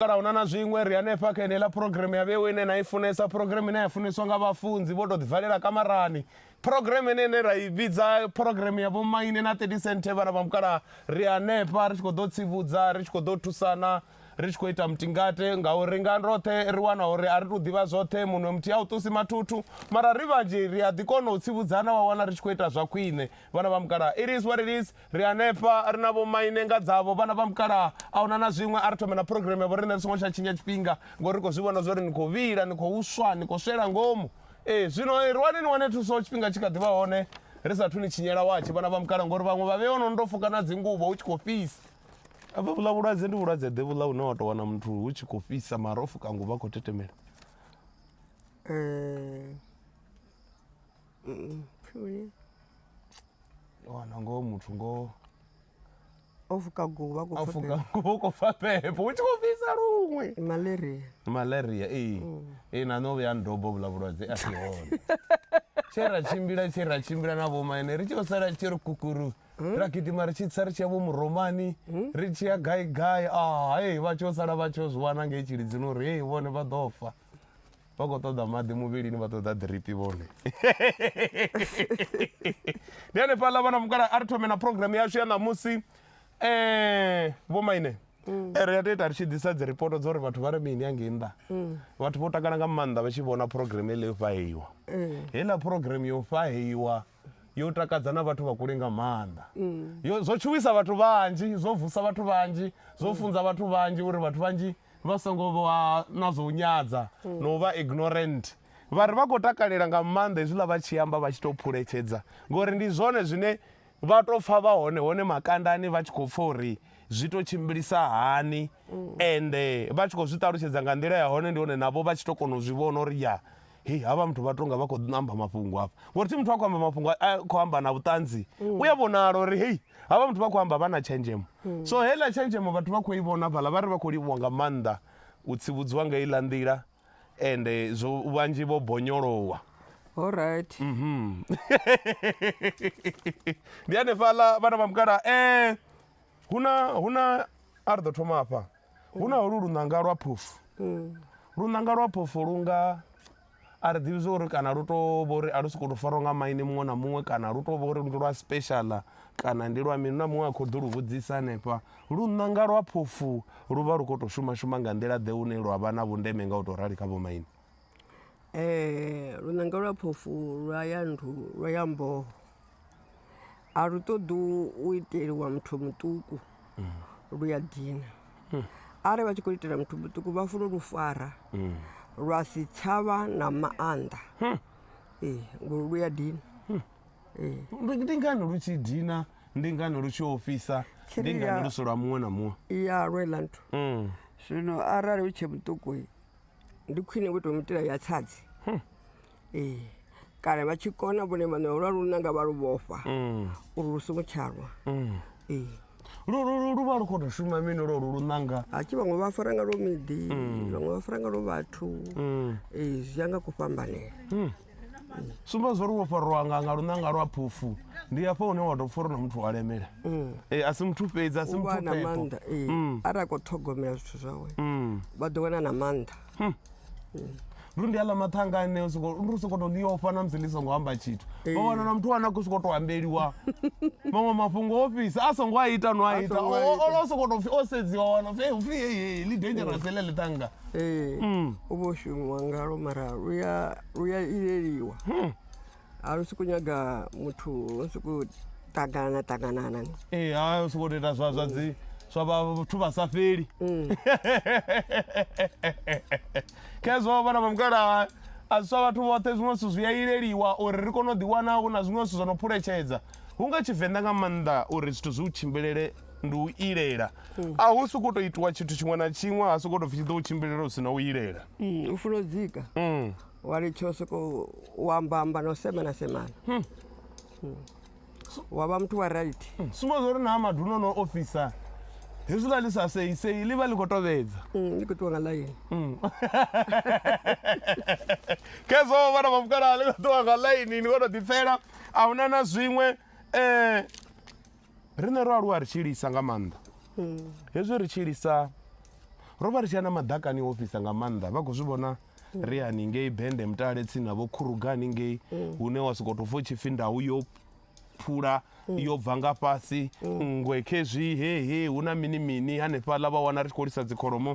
Kana hu na na zwiṅwe? Ri hanefha kha yeneiḽa phurogireme ya Vhewe ine na i funesa, phurogireme ine ya funeswa nga vhafunzi vho tou ḓivalela kamarani, phurogireme ine ine ra i vhidza phurogireme ya vhomaine na 30 senthe vhana vha mukalaha. Ri hanefha ri tshi khou ḓo tsivhudza, ri tshi khou ḓo thusana, ri tshi khou ita mutingate, ngauri nga roṱhe ri wana uri a ri tou ḓivha zwoṱhe, munwe muthihi a u ṱusi mathuthu, mara ri vhanzhi ri a ḓi kona u tsivhudzana wa wana ri tshi khou ita zwa khwine. Vhana vha mukalaha, it is what it is. Ri hanefha, ri na vhomaine nga dzavho, vhana vha mukalaha. A huna na zwiṅwe, a ri thome na phurogireme ya vhoriṋe ri songo tsha tshinya tshifhinga, ngori ri khou zwi vhona zwa uri ni khou vhila, ni khou swa, ni khou swela ngomu. Ee, zwino rwani ni wane thuso tshifhinga tshi kha ḓi vha hone, ri sa athu ni tshinyela watshi, vhana vha mukalaha, ngori vhaṅwe vha vheiwa no no tou fuka na dzinguvho hu tshi khou fhisa. Hafha vhuḽa vhulwadze ndi vhulwadze-ḓe vhuḽa hune wa tou wana muthu hu tshi khou fhisa mara o fuka nguvho a khou tetemela. wana ngoho muthu ngoho o fuka guvha a fuka nguvha u khou pfa phepho u tshi khou fhisa luṅwe malaria malaria ee ee na nṋe o vhuya ndobo vhula vhulwadze a si hone tshe ra tshimbila tshe ra tshimbila na vhomaine ri tshi yo sala tshi ri kukuru ra gidima ri tshi tsa ri tshi ya vho muromani ri tshi ya gai gai a hei vha tshi yo sala vha tshi yo zwi wana ngei tshilidzini uri hei vhone vha ḓo fa vha khou ṱoḓa maḓi muvhilini vha ṱoḓa ḓiripi vhone ndi hanefhaḽa vhana mukala a ri thome na programm yashu ya ṋamusi um eh, vho maine mm. eh, ri ya toita ri tshi ḓisa dzi ripoto dza uri vhathu vha ri mini yangei nnḓa mm. vhathu vho takala nga maanḓa vha tshi vhona programm heḽo yo fhaheiwa mm. heiḽa programm yo fhaheiwa yo takadza na vhathu vha kule nga maanḓa mm. yo zwo tshuwisa vhathu vhanzhi zwo vusa vhathu vhanzhi zwo mm. funza vhathu vhanzhi uri vhathu vhanzhi vha songo vha na zwo nyadza mm. no vha ignorant vha ri vha khou takalela nga maanḓa hezwiḽa vha tshi amba vha tshi tou phuletshedza ngori ndi zwone zwine vha tou pfha vha hone hone makandani vha tshi khou pfha uri zwi tou tshimbilisa hani ende vha tshi khou zwi ṱalutshedza nga nḓila ya hone ndi hone navho vha tshi tou kona u zwi vhona uri ya hei havha muthu vha tonga vha khou amba mafhungo hafha ngori thi muthu a khou amba mafhungo a khou amba na vhuṱanzi mm. u ya vhonala uri hei havha muthu vha khou amba vha na tshenzhemo mm. so heiḽa tshenzhemo vhathu vha khou i vhona fhaḽa vha ri vha khou livhuwa nga maanḓa u tsivhudziwa nga iḽa nḓila ende zwo vhanzhi vho bonyolowa all right mhm. ndi hanefhaḽa vhana vha mukala um eh, huna huna a ri ḓo thoma hafha hu na holu luṋanga lwa phofu mm. luṋanga lwa phofu lu nga a ri ḓivhi zwa uri kana lu tou vha uri a lu sokou tou farwa nga maine muṅwe na muṅwe kana lu tou vha uri ndi lwa special kana ndi lwa mini na muṅwe a khou ḓo lu vhudzisa hanefha lu ṋanga lwa phofu lu vha lu khou tou shuma shuma nga nḓila ḓe hune lwa vha na vhundeme nga u tou rali kha vhomaine lunanga lwa phofhu lu a ya nḓu lwa ya mboho, a lu ṱoḓi u iteliwa muthu muṱuku lu a dina. Arali vha tshi khou itela muthu muṱuku vha funa u lu fara lwa si tsha vha na maanḓa, ee ngori lu a dina. Ndi ngani lu tshi dina, ndi ngani lu tshi ofhisa, ndi ngani lu si lwa muṅwe na muṅwe? I ya lwela nthu, zwino arali u tshe muṱuku. ndi khwine vho tou mitela ya tsadzi hmm. ee kana vha tshi kona vhone vhaṋe lwa lu nanga vha lu vhofha hmm. uri lu songo tshalwa hmm. ee lu vha lu khou tou shuma mini lwo lu lu nanga hatshi vhaṅwe vha fara nga lwo miḓi vhaṅwe vha fara nga lwo vhathu ee zwi ya nga kufhambanela sumba zwori wo fariwa nga nga lunanga lwa phufu ndi hafha hune wa tou pfha uri na muthu wa lemela mm. e, a si muthu fhedzi a si muthu na maanḓa e, mm. arali a khou ṱhogomela zwithu zwawe mm. vha ḓo wana na maanḓa hmm. lu ndi aḽa mathanga ane ndi u sokoto ḽi ofha na musi ḽi songo amba tshithu e. vha wana na muthu wane a khou sokoto ambeliwa maṅwe mafhungo o fhisa a songo a ita no a ita o sokoto pfi o sedziwa wana pfi heyi ḽi dangerous ḽe ḽi tanga Ee, Mm. u vho shumiwa ngalwo mara lu ya lu ya ileliwa Hmm. a lu sokou nyaga muthu lu sokou ṱangana ṱanganana ni Ee, ha u sokou tou ita zwa zwa dzi zwa vhathu vha sa fheli Mm. khezwo vhana vha mukala a zwi swa vhathu vhoṱhe zwiṅwe zwithu zwi a ileliwa uri ri kone u ḓiwana hu na zwiṅwe zwithu zwo no phuletshedza hu nga tshivenḓa nga maanḓa uri zwithu zwi u tshimbilele ndi u ilela mm. a hu sokou tou itiwa tshithu tshiṅwe na tshiṅwe ha sokou tou pfi tshi ḓo u tshimbilela u si na u ilela mm, u funa u dzika mm. wa litsha u sokou u ambamba na u semana semana hmm. hmm. wa vha muthu wa right hmm. sumba zwa uri na madu no no ofisa hezwiḽa ḽi sa seisei ḽi vha ḽi khou tovhedza ḽi khou ṱuwa nga ḽaini khezwo vhana vhafukalaa ḽi khou ṱuwa nga ḽaini ni khou tou ḓipfela a huna na zwiṅwe um Riṋe ro aluwa ri tshi lisa nga maanḓa hezwi ri tshi lisa ro vha ri tshi ya na maḓakani o ofhisa nga maanḓa vha khou zwi vhona ri haningei bende mutale tsini na vho khuruga haningei hune wa sokou tou pfha u tshi pfhi ndau yo phula yo bva nga fhasi nngwe khezwi he he hu na mini mini hanefhaḽa vha wana ri tshi khou lisa dzikholomo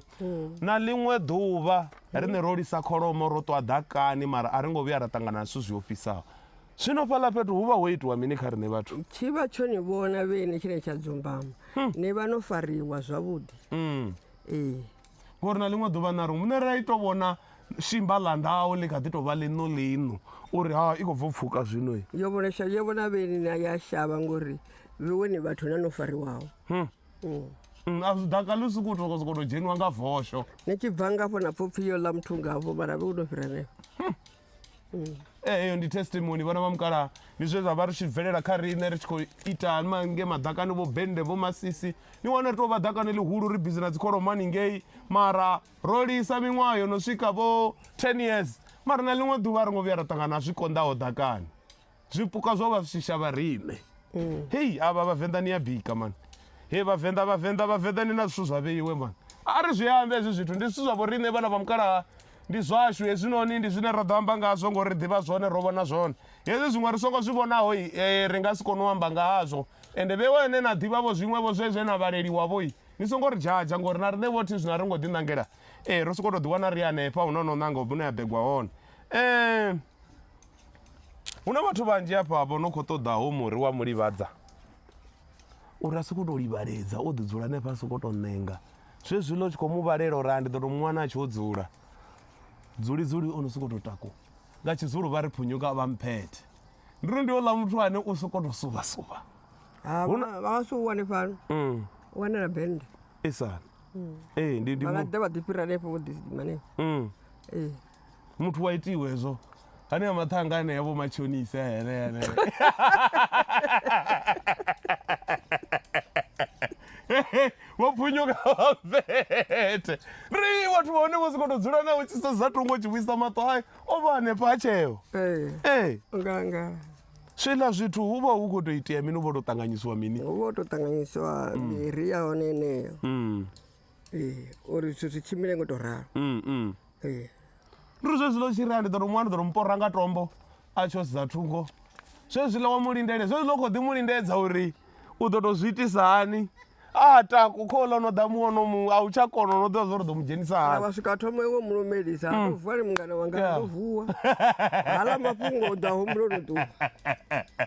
na ḽiṅwe ḓuvha riṋe ro lisa kholomo ro ṱwa ḓakani mara a ri ngo vhuya ra ṱangana na zwithu zwi ofhisaho Zwino fhaḽa fhethu hu vha ho itiwa mini kha riṋe vhathu? Tshi vha tsho ni vhona vhene tshine tsha dzumbama. Hmm. Ni vha no fariwa zwavhuḓi. Hmm. Ee. Ngori na ḽiṅwe ḓuvha na ri muṋe ra ito vhona shimba ḽa ndau ḽi kha ḓi tou vha ḽiṋo ḽiṋo uri ha i khou bvo pfuka zwino yo vhona shavha yo vhona vheni na ya shavha ngori vhone vhathu na no fariwaho hmm. hmm. hmm, a zwi daka ḽi sokou tou sokou tou dzheniwa nga vosho ni tshi bva ngafho na pfopfi yo ḽa muthu ngavho mara vhe u no fhira henefho Eh, eyo ndi testimony vhana vha mukalaha ndi zwe zwa vha ri tshi bvelela kha riṋe ri tshi khou ita mange maḓakani vho bende vho masisi ni wana ri tou vha ḓakani ḽihulu ri bizi na dzikholombani ngei mara ro lisa miṅwaha yo no swika vho ten years mara na ḽiṅwe ḓuvha a ri ngo vhuya ra ṱangana na zwi konḓaho ḓakani zwipuka zwo vha shisha vha riṋe mm. hei avha vhavenḓa ni ya bika mani he vhavenḓa vhavenḓa vhavenḓa ni na zwithu zwa vheiwe mani a ri zwi ambe hezwi zwithu ndi zwithu zwa vho riṋe vhana vha mukalaha ndi zwashu hezwinoni ndi zwine ra ḓo amba ngazwo ngori ri ḓivha zwone ro vhona zwone hezwi zwiṅwe ri songo zwi vhonaho eh, ri nga si kone u amba ngazwo ende vhe wene na ḓivhavho zwiṅwevho zwe zwe na vhaleliwavho i ni songo ri dzhadzha ngori na riṋe vhothi zwino a ri ngo ḓiṋangela e ro sokou tou ḓiwana ri hanefha hu no no ṋanga u vhune ya begwa hone um Hu na vhathu vhanzhi hafha vho no khou ṱoḓa hoyu muri wa mu livhadza uri a sokou tou livhaledza o ḓi dzula hanefha a sokou tou ṋenga zwezwiḽa u tshi khou mu vhalela uri a ndi ḓo tou mu wana a tshi o dzula dzuli dzuli o no sokou tou takuwa nga tshizulu vha ri phunyuka vha mphethe ndi ri ndi oḽa muthu ane u sokou tou suvha suvha ha vha vha vha si u wane fhano Mm, u wanela bennde isani ee ndi ndi vha nga mu- ḓe vha ḓi fhira hanefho vho ḓi hanefho Mm. ee muthu wa itiwa hezwo hanea maṱhanga anea vho matshonisa henea vho pfunyuka vavete ri vhathu vha hone vho si khou tou dzula nawe tshisa za tongo tshi vhuisa maṱo ayo o vha hanefha a tsheo ee eh. eh. zwiḽa zwithu hu vha hu khou tou itea mini u vha tou ṱanganyisiwa mini hu vha tou ṱanganyisiwa miri mm. ya hone eneyo mm. ee uri zwithu zwi tshimbile ngo to ralo mm, mm. ee ri zwezwila u tshi rea ndi ḓo to muwa ndi ḓo to mupora nga tombo a tsho sedza thungo zwezwila wa mu lindele zwezwila u khou ḓi mu lindedza uri u ḓo to zwi itisa hani a taku kho ḽa no ḓa muwo no muṅwe a u tsha kona no ḓivha zwa uri ḓo mu dzhenisa kana hani vha swika thoma iwe mulumelisa ndo vuwa ni mungana wanga Mm. Yeah. ndo vuwa hala mafhungo u ḓa humbuloni ṱuwa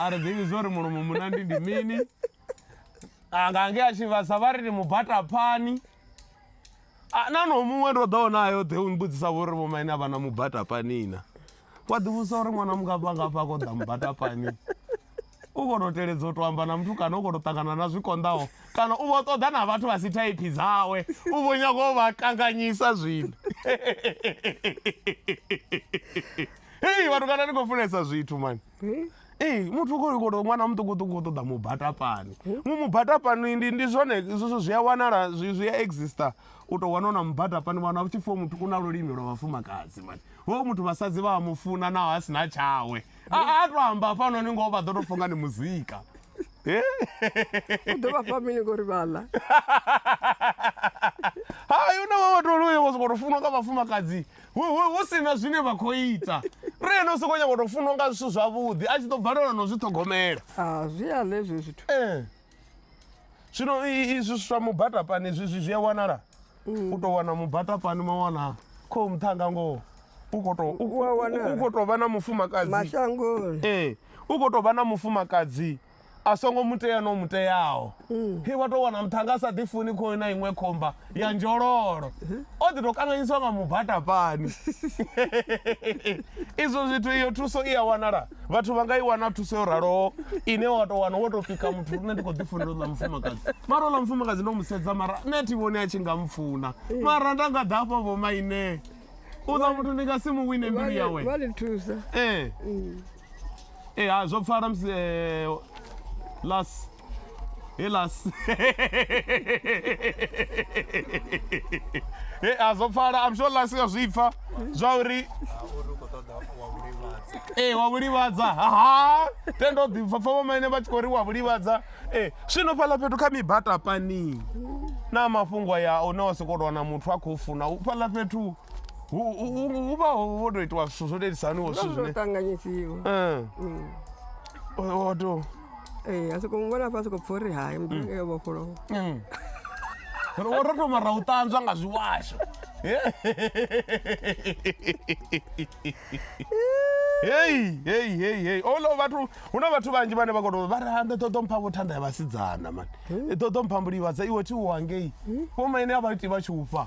a ri ḓivhi zwo ri mulomo munandi ndi mini anga nge a tshi vhasa vha ri ndi mubata phani na no muṅwe ndo ḓo nayo ḓe u mbudzisa vho ri vhomaine a vha na mubata pani na wa ḓivhusa uri ṅwana mungafha ngafha a khou ḓa mubata pani u khou tou teledza u tou amba na muthu kana u khou tou ṱangana na zwi konḓaho kana u vho ṱoḓa na vhathu vha si thaiphi dzawe u vho nyago u vha kanganyisa zwino hei vhathu kana ni khou funesa zwithu mani Ee muthu khou khou tou ṅwana muṱukuṱuku u ṱoḓa mubatapani mu mubatapani ndi ndi zwone zwithu zwi a wanala zwi zwi a exista u tou wana u na mubatapani wana vhu tshi pfhiwa muthu u na lulimi lwa vhafumakadzi mani hoyo muthu vhasadzi vha a mu funa naho a si na tshawe a to amba hafhanoni ngoho vha ḓo tou funga ni muzika u ḓo vha fha mini ngori vha ḽa hayi u na vha vhathu vha sokou tou funwa nga vhafumakadzi hu si na zwine vha khou ita ri ene u sokou nyanga u tou funwa nga zwithu zwavhuḓi a tshi ḓo balelwa no zwi ṱhogomela ah, zwi a ḽe zwe zwithu eh. zwino izwi zwiswa mubatapani zwizwi zwi a wanala mm. u tou wana mubatapani ma wana khou muṱhanga ngoho u khou tou vha na mufumakadzi mashangoni ee u khou tou vha na mufumakadzi a songo mu tea no mu teaho mm. he wa tou wana muthu anga a sa ḓifuni khoyo na iṅwe khomba ya nzhololo mm-hmm. o ḓi tou kanganyiswa nga mubatapani izwo zwithu iyo thuso i a wanala vhathu vha nga i wana thuso yo raloho ine wa tou wana wo tou pika muthu nṋe ndi khou ḓifunela uḽa mufumakadzi mara uḽa mufumakadzi ndo mu sedza mara nṋe thi vhoni a tshi nga mfuna mm. mara nda nga ḓafha vho maine uḽa muthu ndi nga si mu wine mbilu yawe ee eh. mm. ee ha zwo pfala musi eh, las he las he a zwo pfala am sure las ya zwi pfa zwa uri ee wa vhulivhadza haha tendo ḓi pfa pfa vhomaine vha tshi khou ri wa vhulivhadza ee zwino fhaḽa fhethu kha mibata pani na mafhungo ya une wa sokou tou wana muthu a khou funa u fhaḽa fhethu u u- u- u vha ho ho tou itiwa zwithu zwo lelisaniwo zwithu zwo zwine ṱanganyisiwa Eh, Mm. o- o tou ee a soko muvhona fha soko pfha uri hai muḓinga yo vhofholowa Mm. Ro wo ro thoma ra u ṱanzwa nga zwiwasho. Hey, hey, hey, hey. Olo vhathu hu na vhathu vhanzhi vhane vha kono vha ri hande ṱoḓo mpha vho thanda ya vhasidzana mani. Ṱoḓo mpha mbulivha dza iwe thi u hangei. Vho maine a vha iti vha tshi u fha.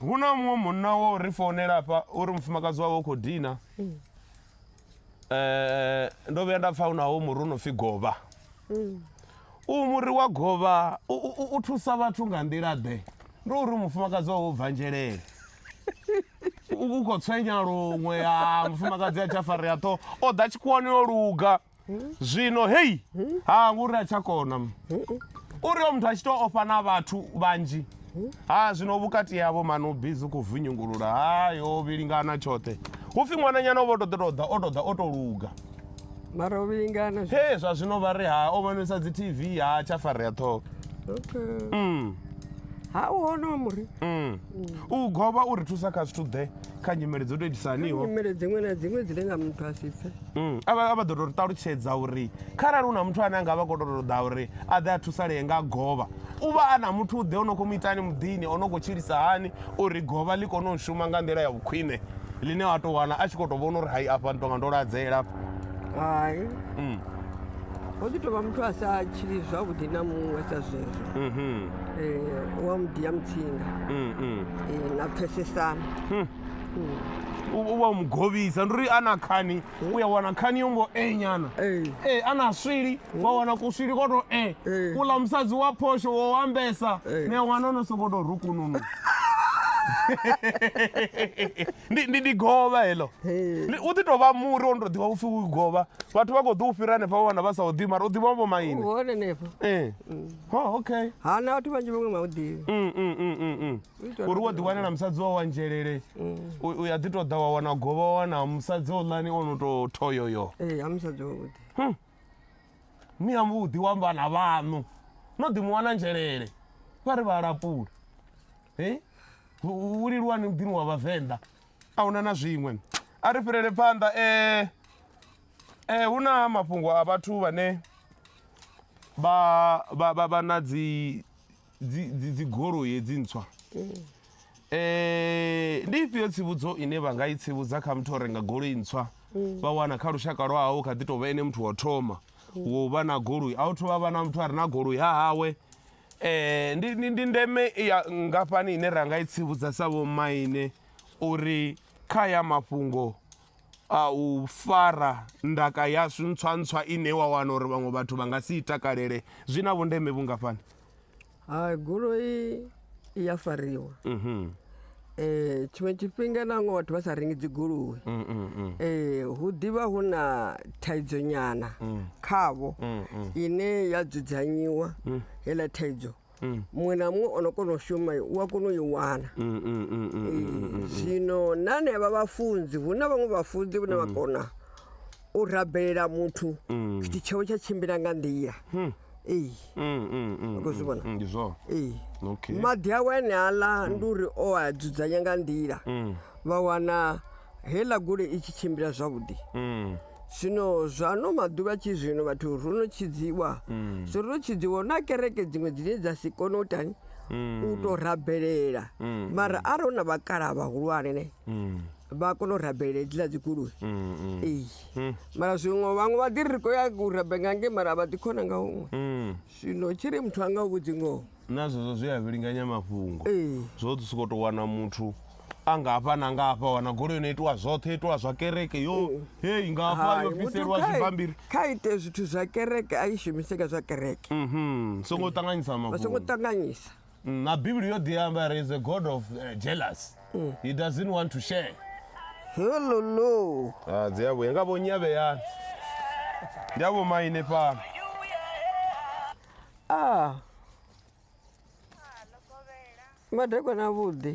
hu na muṅwe munna wo ri founela hafha uri mufumakadzi wawe u khou dina um ndo vhuya nda pfa unawo muri u no pfhi govha mm. u muri wa govha u thusa vhathu nga nḓila ḓe ndo uri mufumakadzi wawe u bvanzhelele u khou tswenya luṅwe a mufumakadzi a tsha farea ṱho o ḓa tshikhuwani yo luga zwino hei ha ngori a tsha kona uri o muthu a tshi to ofha na vhathu vhanzhi ha zwino vhukati yavho mani u bizi khou vunyungulula hayo vhilingana tshoṱhe hu pfhi ṅwananyana vho to ḓo to ḓa o to ḓa o to luga mara o vhilingana he zwa zwino vha ri ha o vhonisa dzi tv ha tsha farea ṱhoho mm. ha u hono muri mm. u govha u ri thusa kha zwithu ḓe kha nyimele dzo tou itisa haniho nyimele dziṅwe na dziṅwe dzine nga muthu a si pfe Mm, a vha a vha ḓo tou ṱalutshedza uri kharali hu na muthu ane a nga vha khou tou ṱoḓa uri a ḓe a thusalee nga govha u vha a na muthu u ḓe o no khou mu itani muḓini o no khou tshilisa hani uri govha ḽi kone u shuma nga nḓila ya vhukhwine ḽine wa tou wana a tshi khou tou vhona uri hai afha ndi tonga ndo ladzela hai Mm. ho ḓi tovha muthu a sa tshili zwavhuḓi na muṅwe sa zwezwo Mhm. Eh, u wa muḓi ya mutsinga Mm, mm. Eh, na pfesesana u u vha u mu govhisa ndi uri a na khani u ya wana khani yo ngo e nyana Eh, e a na swili wa wana kuswili ko to e Eh. kuḽa musadzi wa phosho wo wambesa Eh. ne wana no soko to rukununu ndi ndi ndi govha heḽo Ndi- u ḓi tou vha muri wo no tou ḓivha upfhi u govha vhathu vha khou ḓi u fhira hanefha vha wana vha sa u ḓivhi mara u ḓivha vho maine hone henefho ee ho okay ha na vhathu vhanzhi vhaṅwe vha u ḓivhi Mm, mm, mm, mm, mm. U itela uri wo ḓi wanela musadzi wa wa nzhelele u u ya ḓi tou ḓa wa wana govha wa wana musadzi oḽani o no tou thoyoyo ee ha musadzi wavhuḓi ni ya vhuḓi wa vhana vhaṋu no ḓi mu wana nzhelele vha ri vha lapula e u u- u liluwani muḓini wa vhavenḓa a huna na zwiṅwe a ri fhirele phanḓa eh, eh, hu na mafhungo a vhathu vhane vha vha vha vha na dzi dzi dzi dzi goloi hedzi ntswa eh ndi ifhio tsivhudzo ine vha nga i tsivhudza kha muthu o renga goloi ntswa vha wana kha lushaka lwa hawo kha ḓi tou vha ene muthu wa u thoma wo vha na goloi a u thoma vha na muthu a re na goloi ha hawe Ndi ndi ndi ndeme ya ngafhani ine ra nga i tsivhudza sa vhomaine uri kha haya mafhungo a u fara ndaka yashu ntswa ntswa ine wa wana uri vhaṅwe vhathu vha nga si i takalele zwi na vhundeme vhungafhani? Hai goloi i ya fariwa. Eh, tshiṅwe tshifhinga na nga vhathu vha sa rengi dzigoloi mm, mm, mm. Eh, hu ḓivha hu na thaidzo nyana khavho ine ya dzudzanyiwa heiḽa thaidzo muṅwe na muṅwe o no kona u shuma u a kona u i wana Eh, zwino na nea vha vhafunzi hu na vhaṅwe vhafunzi vhane vha kona u rabelela muthu mm. tshithu tshawe tsha tshimbila nga nḓila hmm. ee mm, mm, mm, khou zwi vhona mm, ndi zwone ee okay. maḓi awe ane aḽa mm. ndi uri o a dzudzanya nga nḓila mm. vha wana heiḽa gole i tshi tshimbila zwavhuḓi mm. zwino zwano maḓuvha tshi zwino vhathu ro no tshidziwa mm. so ro no tshidziwa na kereke dziṅwe dzine dza si kone u tani mm. u tou rabelela mm. mara arali hu na vhakala vhahulwane ne vha kona u rabela hedziḽa dzi goloi mm, mm. ee mm. mara zwiṅwe vhaṅwe vha ḓiri ri khou ya u rabe nga nge mara vha ḓi khona nga huṅwe zwino tshi ri muthu a nga u vhudzi ngoho na zwezwo zwi a vhilinganya mafhungo zwo ḓi sokou tou wana muthu a nga hafha na nga hafha wana goloi no itiwa zwoṱhe itiwa zwa kereke yo mm. hei nga hafha yo bviselwa zwibambiri kha ite zwithu zwa kereke a i shumiseka zwa kereke mhm. songo ṱanganyisa mafhungo songo ṱanganyisa na bivhili yo ḓi amba ri is a god of uh, jealous he doesn't want to share helolo Ah, dzi a vhuya nga vho nyavheyani ndi a vho maine fhano a madekwana avhuḓi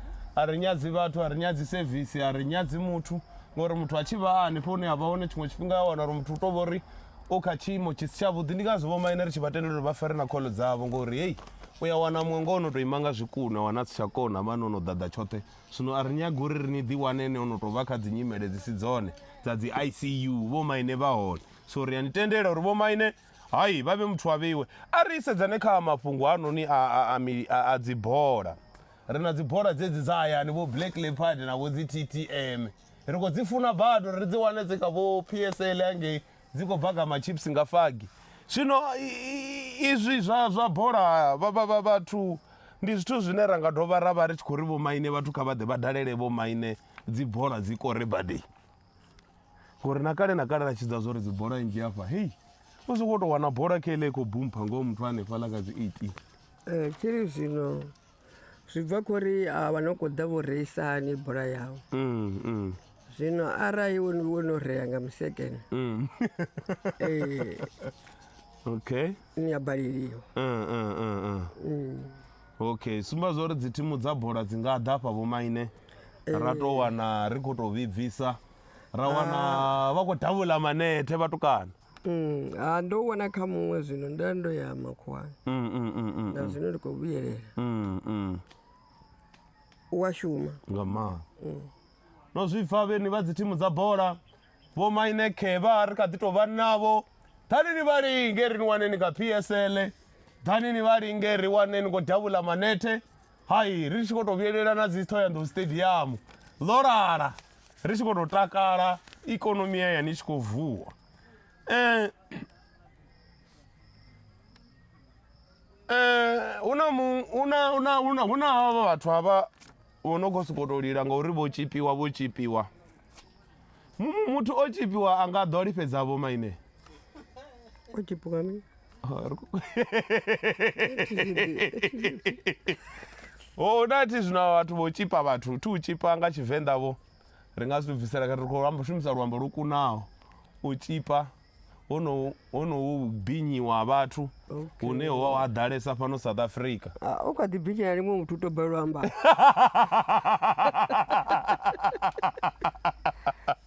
a ri nyadzi vhathu a ri nyadzi sevisi a ri nyadzi muthu ngori muthu a tshi vha a hanefho hune a vha hone tshiṅwe tshifhinga a wana uri muthu u tou vha uri u kha tshiimo tshi si tshavhuḓi ndi ngazwo vhomaine ri tshi vha tendela uri vha fere na kholo dzavho ngori heyi u ya wana muṅwe ngo o no tou ima nga zwikuna wana a si tsha kona vhane o no ḓaḓa tshoṱhe zwino a ri nyagi uri ri ni ḓiwane ene o no tou vha kha dzi nyimele dzi si dzone dza dzi icu vhomaine vha hone so ri a ni tendela uri vhomaine hai vha vhe muthu a vheiwe a ri sedzane kha mafhungo hanoni a dzibola Ri na dzibola dzedzi dza hayani, vho Black Leopard na vho dzi TTM. Ri khou dzi funa badi uri ri dzi wane dzi kha vho PSL hangei dzi khou bva kha machips nga fagi. Zwino izwi zwa zwa bola vha vha vha vhathu ndi zwithu zwine ra nga dovha ra vha ri tshi khou ri vhomaine vhathu kha vha ḓe vha dalele vhomaine dzi bola dzi kore badei ngori na kale na kale ra tshidza zwo ri dzi bola nnzhi afha hei u sokou tou wana bola kha ile i khou bumpha ngoho muthu hanefhaḽa kha dzi eighteen um eh, tshiri zwino zwi bva kho ri a vha no kho ḓa vho reisa hani bola yavho mm, mm. zwino arali wo wo no rea nga musekene mm. eh, okay ni ya baleliwa mm, mm, mm, mm. mm. okay sumba zwa uri dzithimu dza bola dzi nga ḓa fha vhomaine eh. ra tou wana ri khou tou vhibvisa ra wana ah. vha khou davula manethe vhatukana Mm, ah, ndo u wana kha muṅwe zwino nda ndo ya makhuwani Mm, mm, mm, mm, na zwino ndi khou vhuyelela mm, mm. u a shuma nga maanḓa no zwi pfa vheni vha dzi thimu dza bola vho maine khevha ri kha ḓi tou vha navho ḓani ni vha linge ri ni wane ni kha psl ḓani ni vha linge ri wane ni khou davhula manethe Hai, ri tshi khou tou vhuyelela na dzi Thohoyandou Stadium ḽo lala ri tshi khou tou takala ikonomi ya yani i tshi khou vuwa eh eh hu na mu hu na hu na hu na hu na havha vhathu havha vho no khou sokou tou lila ngauri vho tshipiwa vho tshipiwa muthu o tshipiwa a nga ḓo lifhedza vho maine o tshipiwa ni ho na thi zwino vhathu vho tshipa vhathu thi u tshipa nga tshivenḓa vho ri nga zwi bvisela kha ri khou amba shumisa luambo lwo kunaho u tshipa honoho honoho vhubinyiwa ha vhathu Okay. hune ho ha ḓalesa fhano south africa Ah, u kha ḓi binyela limwe muthu u to balelwa amba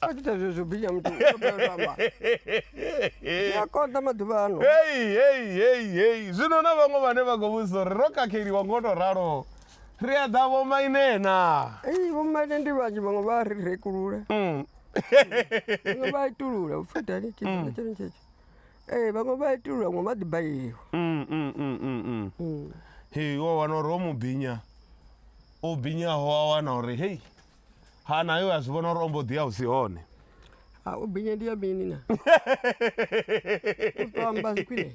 a tshi ita zwezwo binya muthu u to balelwa amba zwi a konḓa maḓuvha ano hei hei hei hei zwino na vhaṅwe vhane vha khou vhudzisa uri ro khakheliwa ngo to ralo ri a ḓa vhomainena Ei, vhomaine ndi vhanzhi vhaṅwe vha ri rekulula Mm. vhaṅwe vha itulula upfhi dali tshifhinga tshone tshetsho ee vhaṅwe vha itulula vhaṅwe vha ḓi baleliwa Mm, mm, mm, mm, mm. Mm. Hey, wa wana uri o mu binya o binyaho a wana uri hei ha nayo a zwi vhona uri o mbo ḓi a u si hone a u binya ndi ya mini na u to amba khwine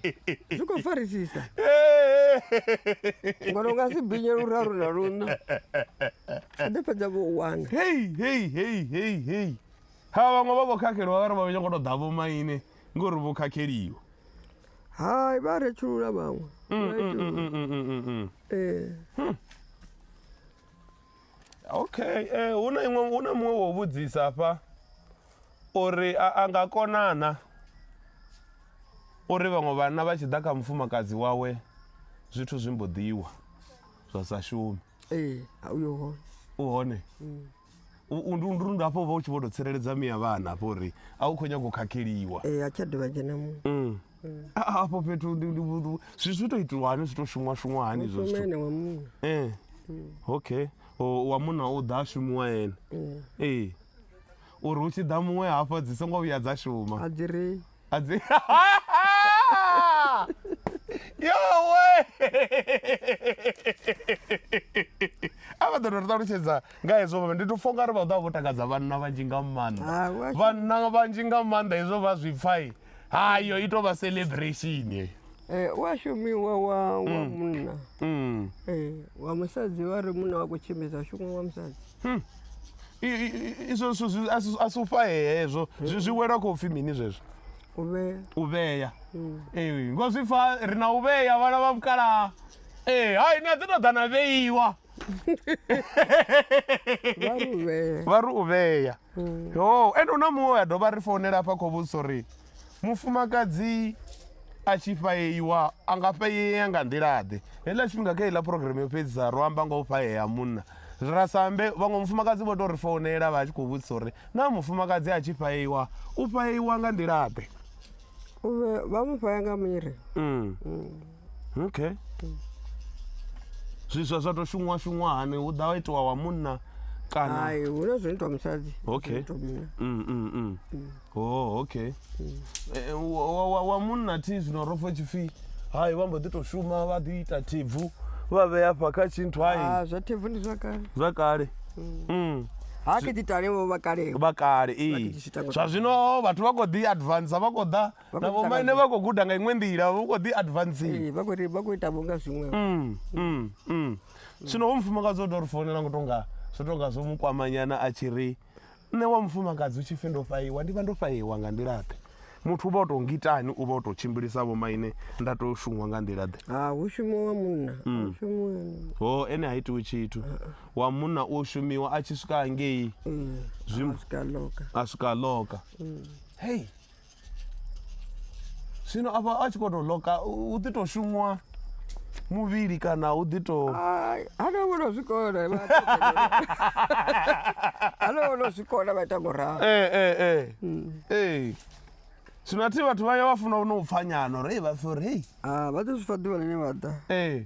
zwi khou farisisa ngori u nga si binye luraru na luṋa a ḓo fhedza vho u wana hei hei hei hei hei ha vhaṅwe vha vho khakheliwa vhare vha vho nyongo to ḓa vho maine ngori vho khakheliwa hai vha retshulula vhaṅwe mm, mm, mm, ee hm. okay eh, hu na iṅwe hu na muṅwe wo vhudzisa afha uri a nga konana uri vhaṅwe vhanna vha tshi ḓa kha mufumakadzi wawe zwithu zwi mbo ḓiwa zwa sa shumi Ee, a uyo hone. U hone. Mm. U ndu ndu ndu hafho vha u tshi vho to tsireledza miya vhana hafho uri a u khou nyaga u khakheliwa. Ee, a tsha dovha dzhena mu. Mm. mm. Hafho fhethu ndi ndi zwi zwi to itiwa hani zwi to shumwa shumwa hani zwo zwithu. Mushumene wa munna. Eh. Mm. Okay. O wa munna u ḓa shumwa yena. Mm. Eh. Uri u tshi ḓa muṅwe hafho dzi songo vhuya dza shuma. A dzi ri. A dzi. yowe a vha ḓo tou ri ṱalutshedza nga hezwo vha ndi to fo ngari vha ḓo vha vho takadza vhanna vhanzhi nga maanḓa vhanna vhanzhi nga maanḓa hezwo vha zwi pfai hayo i tou vha celebration eh, wa shumiwa wa wa mm. munna mm. eh, wa musadzi vha ri munna wa khou tshimbidza shumiwa wa musadzi hmm. izwo zwithu a si u fhahee hezwo zwi zwi wela khou pfhi mini zwezwo u vhea u vhea ee ngo zwi pfa ri na u vhea vhana vha mukalaha ee hai ni a ḓi tou ḓa na vheiwa vha ri u vhea vha ri u vhea yo ende hu na muṅwe we a dovha ri founela hafha khou vhudzisa uri mufumakadzi a tshi fhaeiwa a nga fhaeea nga nḓila-ḓe heiḽa tshifhinga kha heiḽa phurogireme yo fhedzisa ro amba nga u fhaea ha munna Rasambe, Vhaṅwe mufumakadzi vho tou ri founela vha tshi khou vhudzisa uri naa mufumakadzi a tshi fhaeiwa u fhaeiwa nga nḓila-ḓe? Vha mu fhaya nga miri. Mm. Mm. Okay. Zwiswa zwa tou shumwa shumwa hani hu ḓa itiwa wa munna kana? Hai, hu na zwo itwa musadzi. Okay. Mm, mm, mm. oh okay Eh, wa- wa- wa- wa munna thi zwino ro fa tshipfi hai vha mbo ḓi tou shuma vha ḓi ita thibvu vha vhea fha kha tshinthu hai Ah, zwa thebvu ndi zwa kale zwa kale Mm. ha ke titale vho vha kale vha kale ee Vhakiti tshitango. zwa zwino vhathu vha khou ḓi advansa vha khou ḓa Vha na khou vhomaine ṱangana. vha khou guda nga iṅwe nḓila vha khou ḓi advansing Eh, vha khou ri- vha khou ita vho nga zwiṅwe Mm, mm, mm. zwino ho mufumakadzi o tou ri founela ngo tonga zwo tonga zwo mu kwamanyana a tshi ri nṋe wa mufumakadzi u tshi pfhi ndo fhaiwa ndi vha ndo fhaiwa nga nḓilaḓe muthu u vha o tou ngitani u vha o tou tshimbilisa vho maine nda tou shumwa nga nḓilaḓe ha hu shumiwa wa munna a hu shumiwa ene. ho ene ha itiwi tshithu wa munna u shumiwa a tshi swika hangei Ee, Zwim- a swika loka a swika a loka hei zwino afha a tshi khou tou loka hu ḓi tou shumwa muvhili kana hu ḓi tou hana vhono zwikona hana vhono zwikona vha ita ngoralo ee eh, ee eh, hmm. ee zwino athi vhathu vha ya vha funa no u pfanyana uri hei vha pfhi uri hei ah, vha ḓo zwi fa ḓuvha ḽine vha ḓa ee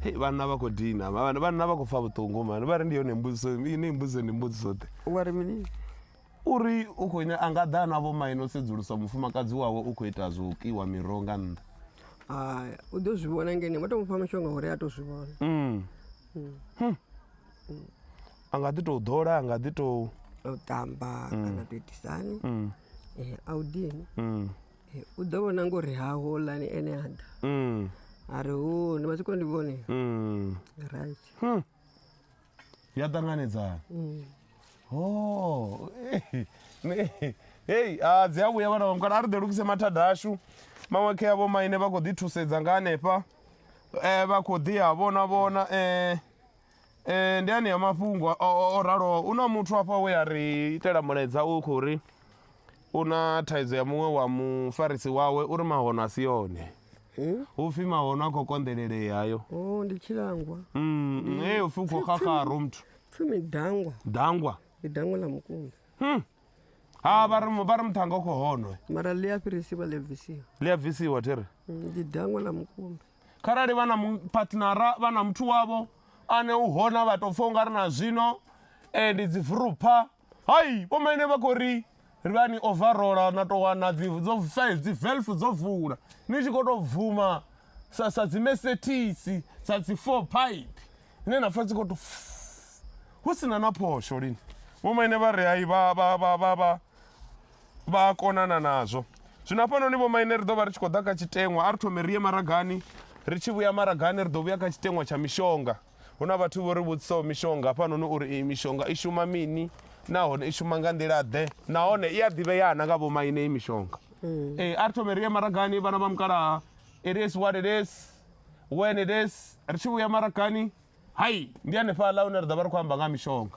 Hei vhanna vha khou dina vha- vhanna vha khou pfa vhuṱungu mani vha ri ndi yone mbudziso i- ni mbudziso ndi mbudziso ḓe wa ri mini uri u khou nya- a nga ḓa na vho maine o sedzulusa mufumakadzi wawe u khou ita zwo kiwa miroho nga nnḓa haya u ḓo zwi vhona ngene vha tou mufha mishonga uri a tou zwi vhona Mm. Hmm. a nga ḓi tou ḓola a nga ḓi tou a u tamba kana tou itisani um a u dini um U ḓo vhona ngo uri ha houḽani ene a ḓa a ri hu ni vha tshi khou ndi vhone right ya ṱanganedzana ho hei a dzi a vhuya vhana vhamukala a ri ḓe lugise mathada ashu maṅwe khe avho maine vha khou ḓi thusedza nga hanefha um vha khou ḓi a vhona vhona um Eh, ndi anea mafhungo o raloho u na muthu afha we a ri itela mulaedza u khou ri u na thaidzo ya muṅwe wa mufarisi wawe uri mahono a si yone eh? hu pfi mahono a khou konḓelelea hayo oh, ndi tshilangwa mm, mm, e u pfi u khou xaxaro muthu pfumi dangwa dangwa ndi dangwa ḽa mukumbi hmm. ha vha ri muṱhanga u khou honwe mara ḽi a fhirisiwa ḽi a bvisiwa ḽi a bvisiwa thi ri mm, ndi dangwa ḽa mukumbi kharali vha na patnara vha na muthu wavho ane u hona vha tou pfha u nga ri na zwino eh, ndi dzi vurupha hai vhomaine vha khou ri ri vha ni overola na tou wana dzo size dzi velf dzo vula ni tshi khou tou bvuma sa sa dzi mesethisi sa dzi four pipe ine na pfha dzi khou tou hu si na na phosho lini vhomaine vha ri hai vha vha vha vha vha vha a konana nazwo zwino hafhanoni vhomaine ri ḓo vha ri tshi khou ḓa kha tshiteṅwa a ri thome ri ye maragani ri tshi vhuya maragani ri ḓo vhuya kha tshiteṅwa tsha mishonga hu na vhathu vho ri vhudzisaho mishonga hafhanoni uri iyi mishonga i shuma mini nahone i shuma nga nḓila ḓe nahone i a ḓivheya na nga vhomaine iyi mishonga mm. ee a ri thome ri ye maragani vhana vha mukalaha it is what it is when it is ri tshi vhuya maragani hai ndi hanefhaḽa hune ri ḓo vha ri khou amba nga mishonga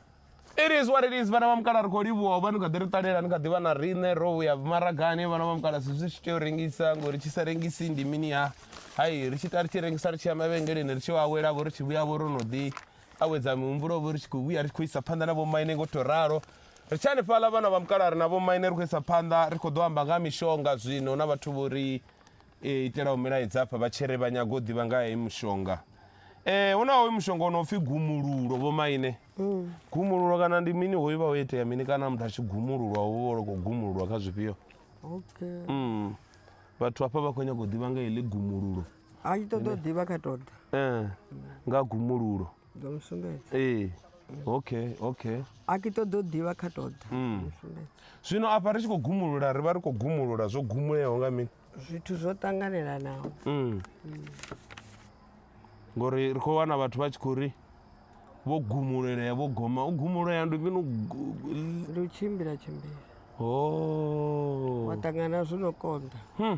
It is what it is vhana vha mukala ri khou livhuwa u vha ni kha ḓi ri ṱalela ni kha ḓi vha na riṋe ro vhuya maragani vhana vha mukala zwi tshi tea u rengisa ngori tshi sa rengisi ndi mini ha hai ri tshi ta ri tshi rengisa ri tshi ya mavhengeleni ri tshi awela vho ri tshi vhuya vho ro no ḓi awedza mihumbulo vho ri tshi khou vhuya ri tshi khou isa phanḓa na vhomaine ngo to ralo ri tshi hanefhaḽa vhana vha mukala ri na vhomaine ri khou isa phanḓa ri khou ḓo amba nga ha mishonga zwino na vhathu vho ri E, itela u milaedza afha vha tshiri vha nyaga u ḓivha nga heyi mushonga e, hu na hoyu mushonga u no pfi gumululo vho maine mm. gumululo kana ndi mini hoyu vha ho itea mini kana muthu a tshi gumululwa hu vha loko gumululwa kha zwifhio okay. mm. vhathu hafha vha khou nyaga u ḓivha nga heḽi gumululo a i ṱoḓa u ḓivha kha toda eh, nga gumululo ndo mu sumbedza ee okay okay a ki ṱoḓa u ḓivha kha tou ḓa Mm. mu sumbedza zwino afha ri tshi khou gumulula ri vha ri khou gumulula zwo gumuleaho nga mini zwithu zwo ṱanganelanaho Mm. ngori ri khou wana vhathu vha tshi khou ri vho gumulelea vho goma u gumulea ndi mini u gu- ndi u tshimbila tshimbila o wa ṱangana zwi no konḓa Hmm.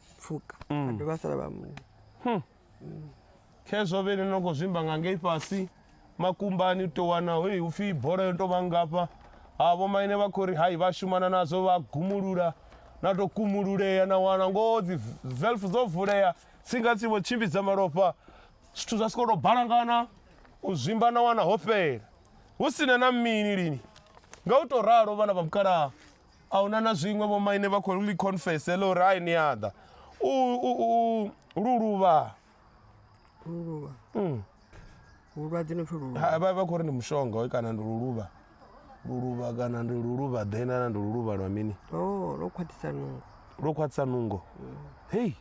pfuka a dovha a sala vha muṅwe khezwo vhene no khou zwimba nga ngei fhasi makumbani u tou wana hoi hu pfhi bola yo tou vha ngafha ha vho maine vha khou ri hai vha shumana nazwo vha gumulula na tou kumululea na wana ngoho dzi velf dzo vulea tsinga tsi vho tshimbidza malofha zwithu zwa sokou tou balangana u zwimba na wana ho fhela hu sina na mini lini nga u tou ralo vhana vha mukalaha a hu na na zwiṅwe vhomaine vha khou ḽi confese ḽa uri hai ni a ḓa u lu luvha lu luvha mm. vhulwadze no pfi lu luvha vha vha khou ri ndi mushonga hoy kana ndi lu luvha lu luvha kana ndi lu luvha ḓe na ndi lu luvha lwa mini o oh, lwo khwaṱhisa nungo lwo khwaṱhisa nungo mm. hei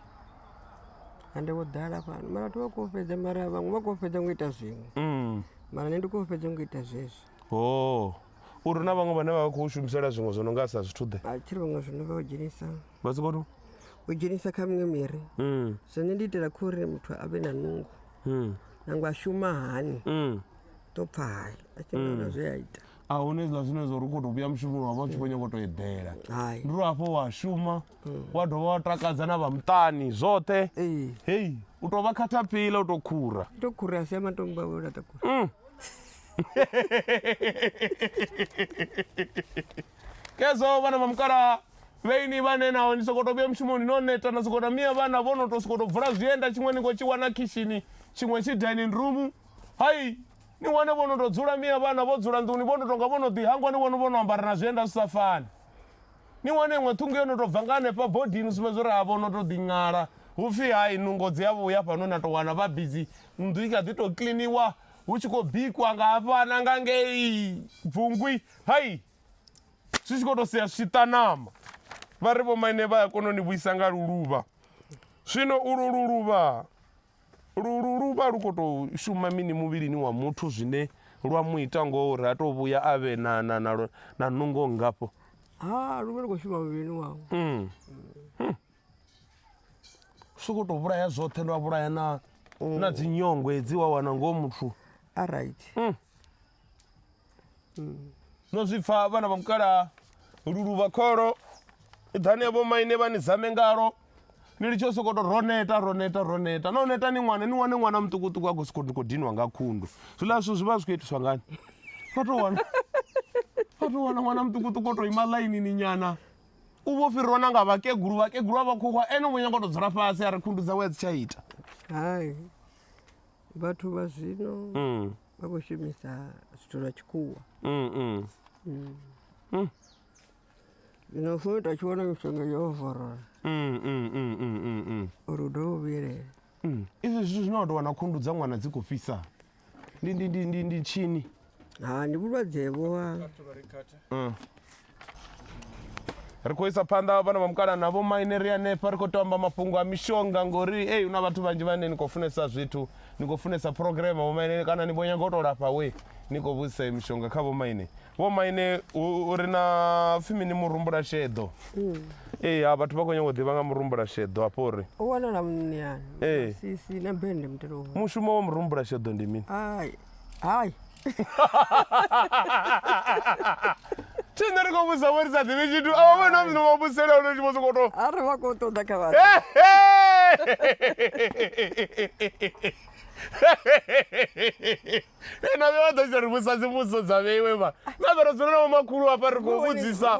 ande wo ḓala fhano mara vhathu vha khou fhedza mara vhaṅwe vha khou fhedza ngo ita zwiṅwe mm. mara nṋe ndi khou fhedza ngo ita zwezwo Oh, uri hu na vhaṅwe vhane vha vha khou shumisela zwiṅwe zwo no nga sa zwithu ḓe a tshiri vhaṅwe zwino vha u dzhenisa vha soko to u dzhenisa kha miṅwe miri Mm, zwone ndi itela kho uri muthu a vhe na nungo mm, nangwe a shuma hani mm. ḓo pfa hai a tshi ngaona zwe a ita a hune zwiḽa zwine zwa uri u khou tou vhuya mushumoni wa vha u tshi khou nyanga u tou eḓela hai ndi uri hafho wa shuma wa dovha wa takadza na vha muṱani zwoṱhe ee hei u tou vha khathapila u tou khura to khura a si ya matombo a vho laṱa khura Mm. kezo vana va mukala veini vane nawo ni sokoto vya mushumoni no neta na sokoto mia vana vono to sokoto vula zwienda tshiṅwe ni ngo tshi wana khishini tshiṅwe tshi dining room hai ni wane vono to dzula mia vana vo dzula nḓuni vono tonga vono ḓi hangwa ni vone vono ambara na zwienda zwi sa fani ni wane iṅwe ṱhungu yo no tou bva nga hanefha bodini sumbedza uri havho no tou ḓiṅala hu pfhi hai nungo dzi a vhuya fhano na tou wana vha bizi nnḓu i kha ḓi tou kliniwa Hu tshi khou bikwa nga hafha na nga ngei bvungwi hai zwi tshi khou tou sia zwi ṱa ṋama vha ri vhomaine vha a kona u ni vhuisa nga luluvha zwino ulu luluvha luluvha lu khou tou shuma mini muvhilini wa muthu zwine lwa mu ita ngoho uri a tou vhuya a vhe na na na na nungo ngafho ha lu vha lu khou shuma muvhilini wawe mm. Hmm. sokou tou vhulaya zwoṱhe lwa vhulaya na na dzi nyongo hedzi wa wana ngoho muthu a right no zwi pfa vhana vha mukalaha luluvha kholo iḓani ya vhomaine vha ni zame ngalo ni litshe u sokou tou ro neta ro neta ro neta no neta ni ṅwana ni wane ṅwana muṱukuṱuku a khou sokou ni khou dinwa nga khundu zwiḽa zwithu zwi vha zwi khou itiswa ngani vha tou wana vha tou wana ṅwana muṱukuṱuku o tou ima ḽainini nyana u vho fhirwa na nga vhakegulu vhakegulu vha vhakhuwa ene u vho nyanga u tou dzula fhasi a ri khundu dzawe a dzi tsha ita hai vhathu vha zwino mm. vha khou shumisa zwithu zwa tshikhuwa mm, mm. mm. mm. zwino fo ita tshi vhona mishonga yo ovorola mm, mm, mm, mm, mm, mm. uri u dovhe u vhuyelela mm. izwi zwithu zwine wa tou wana khundu dza ṅwana dzi khou fhisa ndi ndi ndi ndi ndi tshini ha ndi vhulwadze vho ha Mm. ri khou isa phanḓa vhana vha mukala na vho maine ri hanefha ri khou tou amba mafhungo a mishonga ngori ei hu na vhathu vhanzhi vhane ni khou funesa zwithu ni khou funesa phurogireme vho maine kana ni vho nyaga u tou lafha we ni khou vhudzisa iyi mishonga kha vho maine Vho maine u ri na pfhi mini murumbula sheḓo? Mm. Ee, ha vhathu vha khou nyanga u ḓivha nga murumbula sheḓo hafho uri. U wanala muṋeani. Ee. Sisi na bende mutelo. Mushumo wa murumbula sheḓo ndi mini? Hai. Hai. Tshine ri khou vhusa vho ri sa ḓivhi tshithu avha vha na mzino vha vhusela hone tshi vho sokou tou a ri vha khou ṱoḓa kha vhathu ena vhe vha ḓo tshi ri vhusa dzivhudziso dza vheiwe vha na vhe ro dzula na vhomakhulu hafha ri khou vhudzisa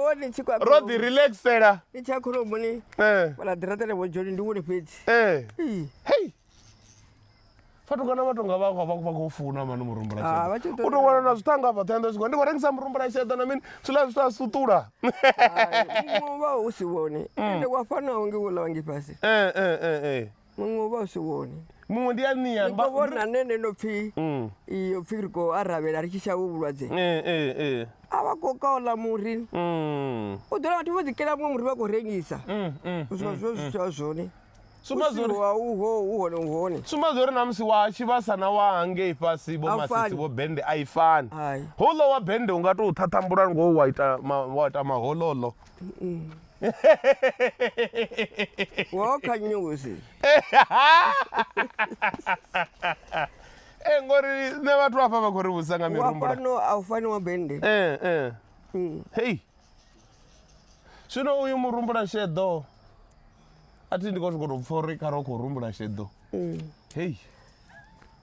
ro ḓi relaxela i tsha khoromoni vhala ḓiraṱele vho dzhoni ndi wone fhedzi hei fatukana vha tonga vha khou funa mani murumbula ah, u tou wana na zwithanga vhoṱhe ndo zwikho ndi khou rengisa murumbula sheḓa na mini zwiḽa zwithu a suṱula vha u si vhone mm. ende wa fanaho nge wo ḽa wangi fhasi eh, eh, eh, muṅwe u vha u si wone muṅwe ndi anni ya ba vhona nne nne no pfi mm. iyo pfi ri ko aravhela ri tshi sha vhu vhulwadze eh eh eh a vha ko ka ola muri mm u ḓola vhathu vho ḓi kela muṅwe muri vha ko rengisa mm mm zwo mm, zwo mm. zwo zwone suma zwo wa u ho u hone u hone suma zwo na musi wa tshi vha sana wa hange ifasi bo masisi bo bende a ifani holo wa bende unga to thathambula ngo wa ita wa ita mahololo woka nnyo vhusi Eh, ngori nṋe vhathu afha vha khou ri vhusa nga wa mirumbula fhano a u fani wa bende Eh, eh. Mm. hei zwino uyu murumbula sheḓo a thi ndi khou sokou tou pfha uri kha ro khou rumbula sheḓo hei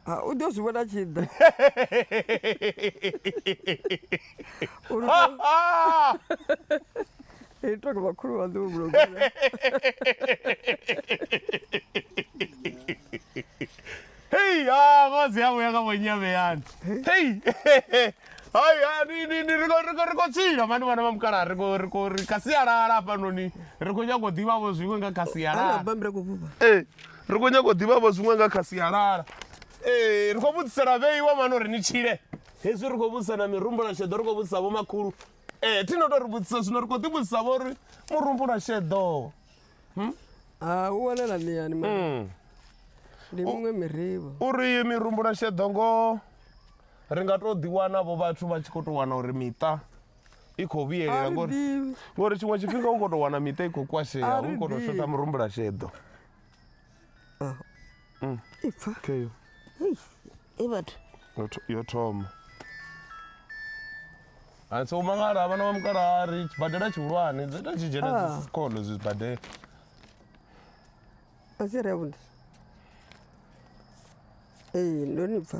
Ah, u ḓo zwi vhona tshi ḓa Uri u- i tou nga vhakhulu vha ḓo vhulunga Hey, ah, ngozi yavho ya nga vhonyame yani. Hey. Hai, ah, ni ni ni ri khou- ri khou- ri khou tshila mani vhana vha mukala ri khou ri khou ri kha sialala hafhanoni ri khou nyanga u ḓivha vho zwiṅwe nga kha ara sialala. bammbira kuvhuva Eh. ri khou nyanga u ḓivhavho zwiṅwe nga kha sialala ee ri khou vhudzisela vheiwa mani uri ni tshile hezwi ri khou vhudzisa na mirumbula sheḓo ri khou vhudzisa vho makhulu ee thi no tou ri vhudzisa zwino ri khou ḓi vhudzisa vho uri murumbula sheḓo hmm? ah, u wanala miani hmm. ndi miṅwe mirivho uri iyi mirumbula sheḓo ngoho ri nga tou ḓiwana vho vhathu vha tshi khou tou wana uri miṱa i khou a vhuyelela ri ngori ḓivhi ngori tshiṅwe tshifhinga u khou tou wana miṱa i khou kwashea A ri u khou tou ḓivhi. shotha murumbula sheḓo i pfa keyo Hei, e vhathu yo tho- yo thoma a so mangala vhana vha mukala ri tshibadela tshihulwane dzi ita tshi dzhena Ah. dzi sikolo zwibadela a si ri avhuḓi ee ndo ni pfa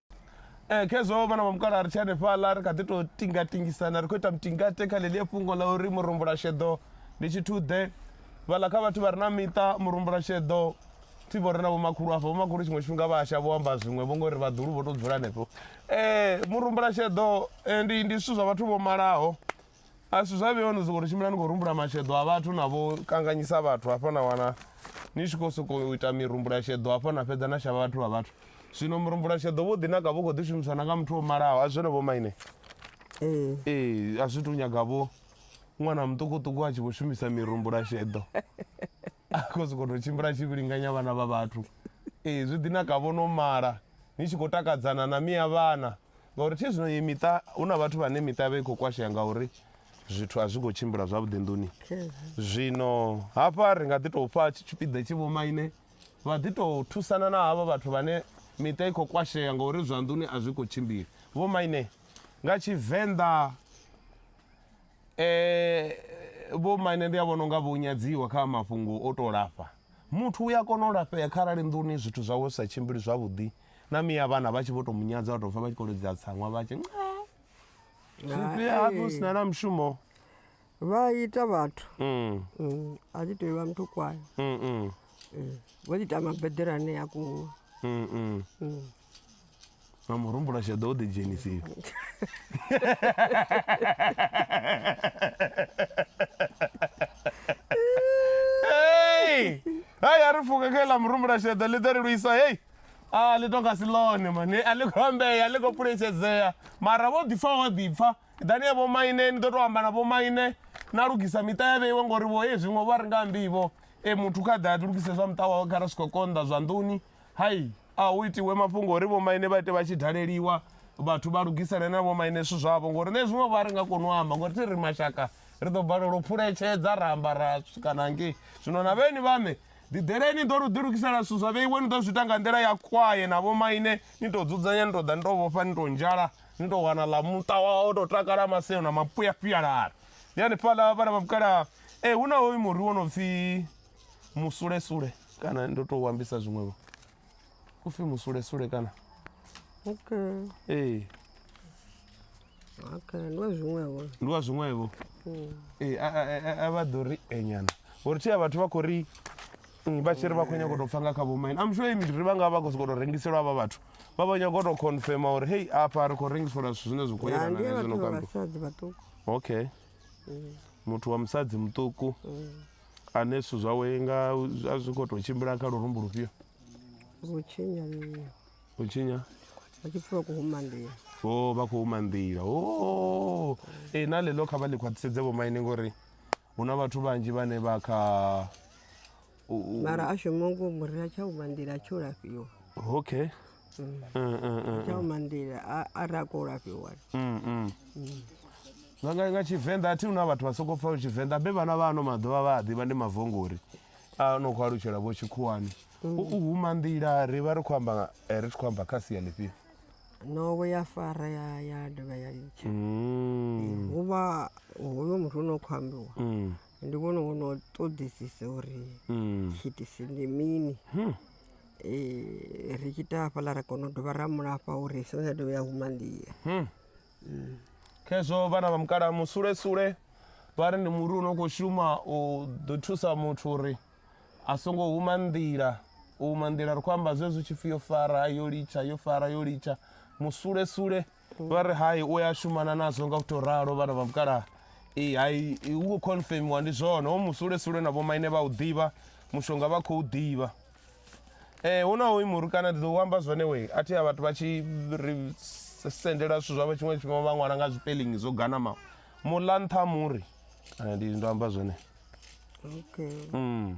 Eh, khezwo vhana vha mukala ri tshi hanefhaḽa ri kha ḓi tou tingatingisana ri khou ita mutingate kha ḽeḽia fhungo ḽa uri murumbulasheḓo ndi tshithuḓe vhaḽa kha vhathu vha re na miṱa murumbulasheḓo thi vho ri na vhomakhulu afha vhomakhulu tshiṅwe tshifhinga vha asha vho amba zwiṅwe vho ngori vhaḓulu vho tou dzula hanefho um murumbulasheḓo eh, ndi ndi zwithu zwa vhathu vho malaho A zwithu zwa vhewa ni sokou ri tshimbila ni khou rumbula masheḓo a vhathu na vho kanganyisa vhathu hafha na wana ni tshi khou sokou ita mirumbula sheḓo hafha na fhedza na shavha vhathu vha vhathu zwino murumbula sheḓo vho ḓi naka vho khou ḓi shumiswa na nga muthu o malaho a zwone vho maine ee ee a zwi tou nyaga vho ṅwana muṱukuṱuku a tshi vho shumisa mirumbula sheḓo a khou sokou tou tshimbila a tshi vhilinganya vhana vha vhathu ee zwi ḓi naka vho no mala ni tshi khou takadzana na miya vhana ngauri thi zwino ye miṱa hu na vhathu vhane miṱa vha i khou kwashea ngauri zwithu a zwi khou tshimbila zwavhuḓi nḓuni zwino hafha ri nga ḓi tou fha tshipiḓa tshi vhomaine vha ḓi tou thusana na havha vhathu vhane miṱa i khou kwashea ngauri zwa nḓuni a zwi khou tshimbila vhomaine nga tshivenḓa Vho maine ndi a vhona unga vho nyadziwa kha mafhungo o to lafha. Muthu u ya kona u lafhea kharali nḓuni zwithu zwawe zwi sa tshimbili zwavhuḓi na miya vhana vha tshi vho to mu nyadza vha to pfha vha tshi kho to lidza tsaṅwa vha tshi zwifhio hafhi hu sina na mushumo. Vha ita vhathu a thi tou vha muthu kwae vho ḓi ita mabeḓelani a kuṅwe. na murumbulasheḓo u ḓidzhenisiwa hei hai a ri pfuka kha iḽa murumbulasheḓo ḽi ḓo ri lwisa hei a ah, ḽi tonga si ḽone mane a ḽi khou ambea a ḽi khou phuletshedzea mara vho ḓipfa vho ḓipfa ḓani ya vhomaine ni ḓo tou amba na vhomaine na lugisa miṱa ya vheiwe ngori vho hei zwiṅwe vho a ri nga ambivo e muthu kha ḓe a lugise zwa muṱa wawe kha ra swika konḓa zwanḓuni Hai, a hu itiwe mafhungo uri vhomaine vha ite vha tshi daleliwa vhathu vha lugisele na vhomaine zwithu zwavho ngori nṋe zwiṅwe vha ri nga koni u amba ngori thi ri mashaka ri ḓo balelwa u phuletshedza ra amba ra swika na ngei zwino na vheni vhaṋe ḓiḓeleni ni ḓo lu ḓilugisela zwithu zwa vheiwe ni ḓo zwi ita nga nḓila ya kwaye na vhomaine ni tou dzudzanya ni tou ḓa ni tou vhofha ni tou nzhala ni tou wana ḽa muṱa wawo tou takala maseo na mapuyapuyalari ndi hanefhaḽa vhala vha vhukalaha ee hu na hoyu muri wo no pfhi musulesule kana ndo tou ambisa zwiṅwevho u pfhi musulesule kana okay ee okay ndi wa zwiṅwevho ndi wa zwiṅwevho hmm. ee a vha ḓo ri enyana uri thi a vhathu vha khou ri hmm, vha tshi ri vha khou nyako tou pfa nga kha vhomaini am sure imdiri vha nga vha khou sokou tou rengiselwa avha vhathu vha vha nyako tou confirma uri hei afha ri khou rengiselwa zwithu zwine zwi khou yelana na zwino kambi okay hmm. muthu wa musadzi muṱuku ane zwithu zwawe nga a zwi khou tou tshimbila kha lurumbu lufhio vho tshinya nṋe u tshinya vha tshi pfa vha khou huma nḓila o vha khou huma nḓila o e na ḽeḽo kha vha ḽi khwaṱhisedze vhomaine ngori hu na vhathu vhanzhi vhane vha kha u- u- mara a shuma ngo muri a tsha huma nḓila a tsho lafhiwa okay tsha mandila a ra kola fhiwani nga tshivenḓa a thi huna vhathu vha sokou pfa tshivenḓa be vhana vha ano maḓuvha vha a ḓivha ndi mavongori a no khou alutshela vho tshikhuwani u huma nḓila ri vha ri khou amba ri tshi khou amba kha sia ḽifhio novo ya fara ya ya dovha ya litsha hu vha hoyo muthu o no khou ambiwa ndi vhone wo no ṱoḓisisa uri tshiitisi ndi mini Ee, ri tshi ita hafhaḽa ra kona u dovha ra mu lafha uri songo tsha dovha ya huma nḓila hmm. hmm. khezwo vhana vha mukalaha musulesule vha ri ndi muri u no khou shuma u ḓo thusa muthu uri a songo huma nḓila u huma nḓila ri khou amba zwezwi tshipfi yo fara yo litsha yo fara yo litsha musulesule vha ri hai u ya shumana nazwo nga u tou ralo vhana vha mukalaha ee hai i- hu khou confirmiwa ndi zwone ho musulesule na vhomaine vha u ḓivha mushonga vha khou ḓivha Eh hu na hoyu muri kana ndi ḓo u amba zwone we a thi a vhathu vha tshi ri s- sendela zwithu zwavho tshiṅwe tshifhinga vha ṅwala nga zwipelingi zwo ganamaho muḽa nṱha ha muri Eh, ndi ndo amba zwone okay mm.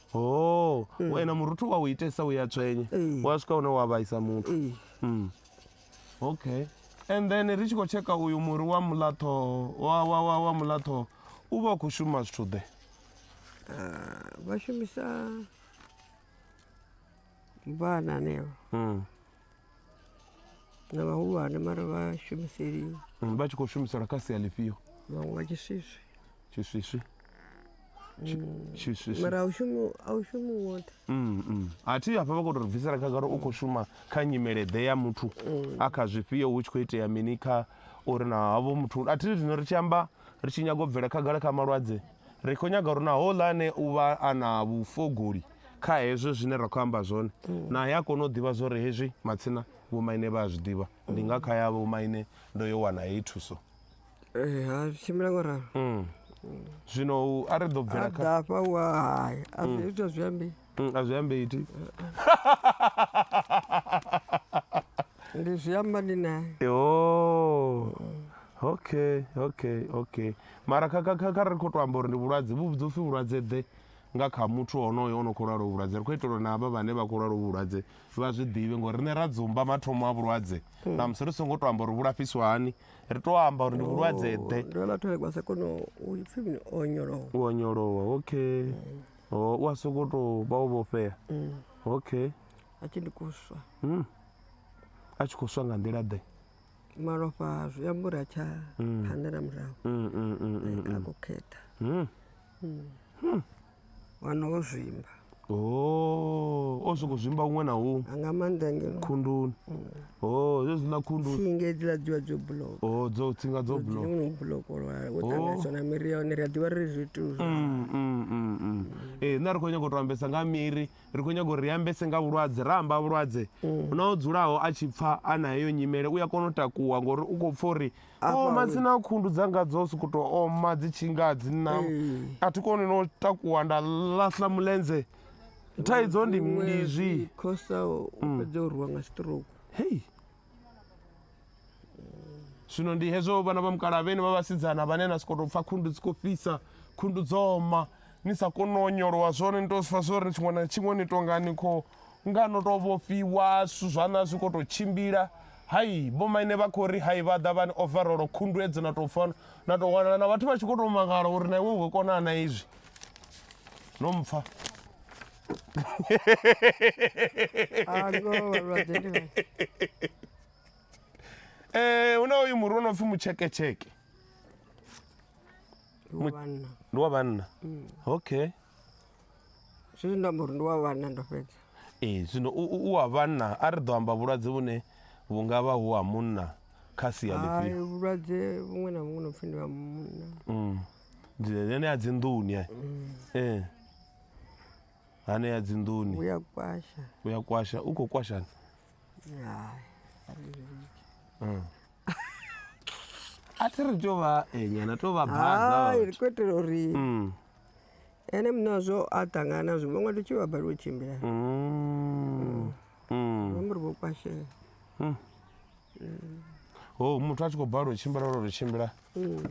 Oh, mm. wena muruthu wa u itesa u ya tswenye mm. wa swika hune wa vhaisa muthu mm. Mm. okay and then ri tshi khou tsheka uyu muri wa mulatho wa, wa, wa, wa mulatho u vha u khou shuma zwithu ḓe ah, vha shumisa vhana neo mm. na vhahulwane mara vha shumiseli Mm, vha tshi khou shumisela kha sia ḽifhio vhaṅwe vha tshiswiswi tshiswiswi Tshi- Mm. tshiswiswi mara a u shumi a u shumi woṱhe Mm, mm. a thi hafha vha khou tou ri bvisela khagala u khou shuma kha nyimeleḓe ya muthu Mm. a kha zwifhio hu tshi khou itea mini kha uri na havho muthu a thi zwino ri tshi amba ri tshi nyaga u bvela khagala kha malwadze ri khou nyaga uri na houḽa ane u vha a na vhufogoli kha hezwi zwine ra khou amba zwone mm. naye a kona u ḓivha zwo ri hezwi matsina vhomaine vha a zwi ḓivha ndi nga kha ya vhomaine ndo yo wana heyi thuso eh, ha tshimbila ngo ralo mm. zwino a ri ḓo bvela kha dafha wa hai a zwi mm. ita zwi ambi a zwi ambi iti ndi zwi amba ndi naye yo okay okay okay mara kha kha kha ri khou to amba uri ndi vhulwadze vhu vhudzopfi vhulwadze ḓe nga kha muthu honoyo o no khou lwala uvhu vhulwadze, ri khou itela uri na havha vhane vha khou lwala uvhu vhulwadze vha zwi ḓivhe, ngori riṋe ra dzumba mathomo a vhulwadze hmm. ṋamusi ri songo tou amba uri vhu lafhiswa hani, ri tou amba uri ndi vhulwadze oh, ḓe. Ndi vhona thole kwasa kono u pfhi mini o onyolowa. U onyolowa, okay. Hmm. Oh, u a sokou tou vha o vhofhea. Hmm. Okay. A tshi ndi kuswa. A tshi khou swa nga nḓila ḓe? Malofha zwi amba uri a tsha phanḓa na murahu. A khou khetha. wana wo zwimba Oh, o sokou zwimba huṅwe na huṅwe a nga maanḓa ngeno khunduni oh zwe zwiḽa khundu tsinga hedziḽa dzi vha dzo buloka oh dzo tsinga dzo bulo dzine no bulokolwa wo ṱanganyiswa na miri ya hone ri a ḓivha ri zwithu zwa Mm, mm, mm, mm. ee nṋe ri khou nyanga u to ambesa nga miri ri khou nyanga uri ri ambese nga vhulwadze ra amba vhulwadze na o dzulaho a tshi pfha a na heyo nyimele u ya kona u takuwa ngori u khou pfha uri Afha Oh, matsina a khundu dzanga dzo sokou tou oma dzi tshi nga dzi na a thi koni no takuwa nda laṱa mulenzhe thaidzo ndi ndi zwi khosa u fhedza u rwiwa nga stroke hei zwino ndi hezwo vhana vha mukala vhene vha vhasidzana vhane na sokou tou pfha khundu dzi khou fhisa khundu dzo oma ni sa koni u onyolowa zwone ni tou pfha zwo ri tshiṅwe na tshiṅwe ni tou nga ni khou Nga no tou vhofhiwa, zwithu zwaṋu a zwi khou tou tshimbila. Hai, vhomaine vha khou ri hai vha ḓa vha ni ovarolo, khunduwedzo na tou pfa na tou wanala na vhathu vha tshi khou tou mangala uri na iwe u khou kona na izwi. No mpfa. Eh, hu na uyu muri wo no pfi mutsheketsheke. Ndi wa vhanna. Mm. Okay. Zwi amba uri ndi wa vhanna ndo fhedza. Ee, zwino u, u, u wa vhanna a ri ḓo amba vhulwadze vhune vhu nga vha hu ha munna kha sia Hai, ḽifhio vhulwadze vhuṅwe na vhuṅwe no pfi ndi ha munna. Mm. Dzi- henea dzi nḓuni eh. eh hanea dzi nḓuni Vhu ya kwasha. u ya kwasha u khou kwashani Hai. a ri zwi litshe. a thi ri tou vha eh, nyana tou vha baza Hai, ri khou itela uri Mm. Ene muṋe wazwo a ṱangana nazwo vho nga tshi vha balelwa u tshimbila mm. mm. amba uri vho kwashela mm. ho oh, muthu a tshi khou balelwa u tshimbila lwo ri tshimbila mm.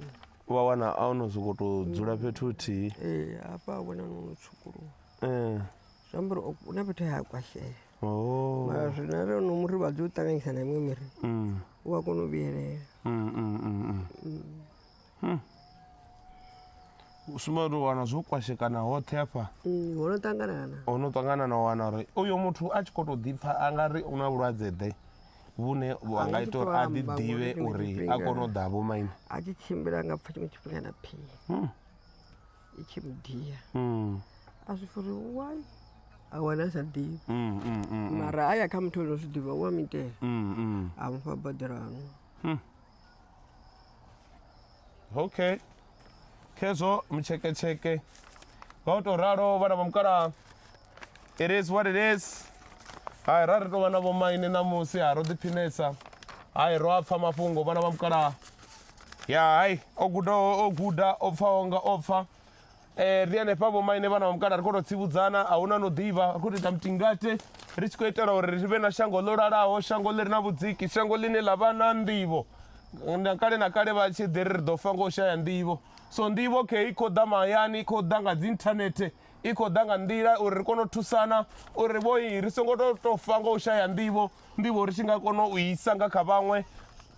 wa wana a ono sokou tou dzula mm. fhethu huthihi ee eh, hafha a vhona nono tshukuluwa ee eh. zwi amba uri u na fhethu ha kwashela oh. mara zwina ri ono muri vha dzi u ṱanganyisa na iṅwe miri u a kona u vhuyelela Hmm. Sumba uri wana zwo kwashekana hoṱhe hafha mm, ho no ṱanganana ho no ṱangana na wana uri uyo muthu a tshi khou tou ḓipfa a nga ri u na vhulwadze ḓe vhune vha nga ita uri a ḓi ḓivhe uri a kone u ḓa vho maine a tshi tshimbila nga pfa tshiṅwe tshifhinga na phi hmm. i tshi mudia hmm. a zwi furi wai a wana a sa ḓivhi mara a ya kha muthu o no zwi ḓivha u a mitela a mufha boḓelano okay khezwo mutsheketsheke nga u tou ralo vhana vha mukalaha it is what it is hai ra ri tou vha na vhomaine ṋamusi ha ro ḓiphinesa hai ro a pfha mafhungo vhana vha mukalaha ya hai o gudaho o guda o pfaho nga o pfa Eh, ri hanefha vhomaine vhana vha mukala ri khou tou tsivhudzana a huna no ḓivha ri khou tou ita mutingate ri tshi khou itela uri ri vhe na shango ḽo lalaho shango ḽi re na vhudziki shango ḽine ḽa vha na nḓivho na kale na kale vha tshi ḓi ri ri ḓo fa nga u shaya nḓivho so nḓivho khe i khou ḓa mahayani i khou ḓa nga dzi inthanethe i khou ḓa nga nḓila uri ri kone u thusana uri vhoi ri songo to to fa nga u shaya nḓivho nḓivho ri tshi nga kona u isa nga kha vhaṅwe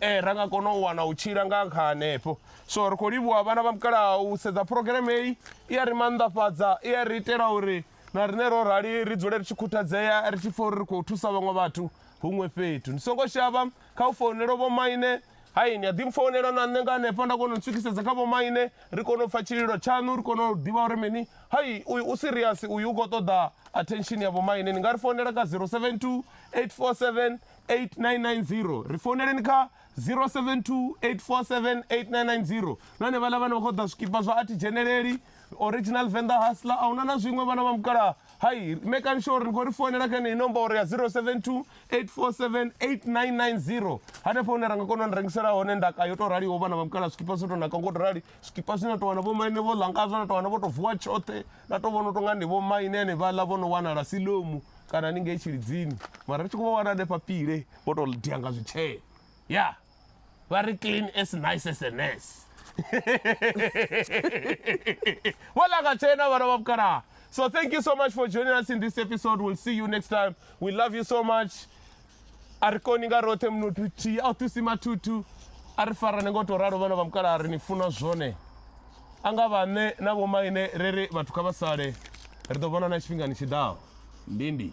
eh ra nga kona u wana u tshila nga kha hanefho so ri khou livhuwa vhana vha mukalaha u sedza phurogireme heyi i ya ri mannḓafhadza i ya ri itela uri na rine ro rali ri dzule ri tshi khuthadzea ri tshi pfha uri ri khou thusa vhaṅwe vhathu huṅwe fhethu ndi songo shavha kha u founela vho maine Hai, ni a ḓi mpfounela na nṋe nga hanefha nda kona u ntswikisedza kha vhomaine, ri kone u pfa tshililo tshaṋu, ri kone u ḓivha uri mini. Hai, uyu u serious, uyu u khou ṱoḓa attention ya vhomaine. Ni nga ri founela kha 072 847 8990. Ri founeleni kha 072 847 8990. Na hanevhaḽa vhane vha khou ṱoḓa zwikipa zwa a thi dzheneleli. original venda hasla a huna na zwiṅwe vhana vha mukalaha hai mekani sure uri ni khou ri founela kha heneyi nomboro ya 072 847 8990 hanefho hune ra nga kona u ni rengisela hone ndaka yo tou raliho vhana vha mukalaha zwikipa zwo tou naka ngo to rali zwikipa zwine na tou wana vho maine vho langazwa na tou wana vho tou vuwa tshoṱhe na tou vhona u tou nga ndi vho maine ane vhaḽa vho no wanala silomu kana ni ngei tshilidzini mara ri tshi khou vha wana hanefha pile vho tou dia nga zwitshee ya yeah. vha ri clean as nice as a nurse vho langa tshena vhana vha vhukalaha so thank you so much for joining us in this episode we'll see you next time we love you so much a ri koni nga roṱhe munothu thihi a u thusi mathuthu a ri farane ngo tou ralo vhana vha mukalaha ri ni funa zwone a nga vhaṋe na vhomaine ri ri vhathu kha vha sale ri ḓo vhonana tshifhingani tshi ḓaho ndindi